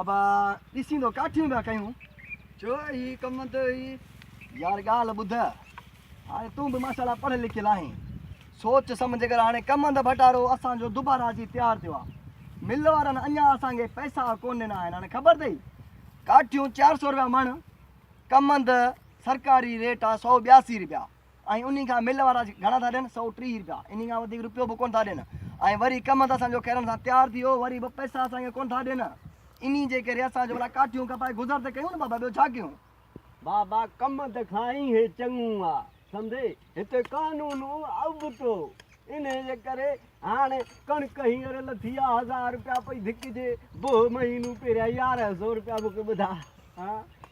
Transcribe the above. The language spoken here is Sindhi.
ابا ڏسين ٿو ڪاٺيون پيا ڪيون. ڇو هي ڪم ته هي. يار ڳالهه ٻڌ هاڻي تون به ماشا الله پڙهيل لکيل آهين سوچ سمجهه ڪر هاڻي ڪم هنڌ ڀٽارو اسان جو دوبارا اچي تيار ٿيو آهي مل وارن اڃا اسان کي پئسا ڪون ڏنا آهن هاڻي خبر اٿئي ڪاٺيون چار سؤ روپيا مڻ ڪم هنڌ سرڪاري ريٽ آهي سؤ ٻياسي روپيا ۽ انهي کان مل وارا گهڻا ٿا ڏين سؤ ٽيهه رپيا انهي کان وڌيڪ رپيو به ڪونه ٿا ڏين ۽ وري ڪم ته اسان جو ڪرڻ سان تيار ٿي ويو وري به پئسا اسان کي ڪونه ٿا ڏين انهي جي ڪري اسان جو ڀلا ڪاٺيون ڪپائي گذر ته ڪيون نه بابا ٻيو ڇا ڪيون. بابا ڪم ته کائين هي چڱو آ سمجهي هتي قانون ابتو انهي جي ڪري هاڻي ڪڻڪ هينئر لٿي آ هزار رپيا پئي ڌڪجي بوهه مهينو پهريان يارهن سؤ رپيا مون کي ٻڌا ها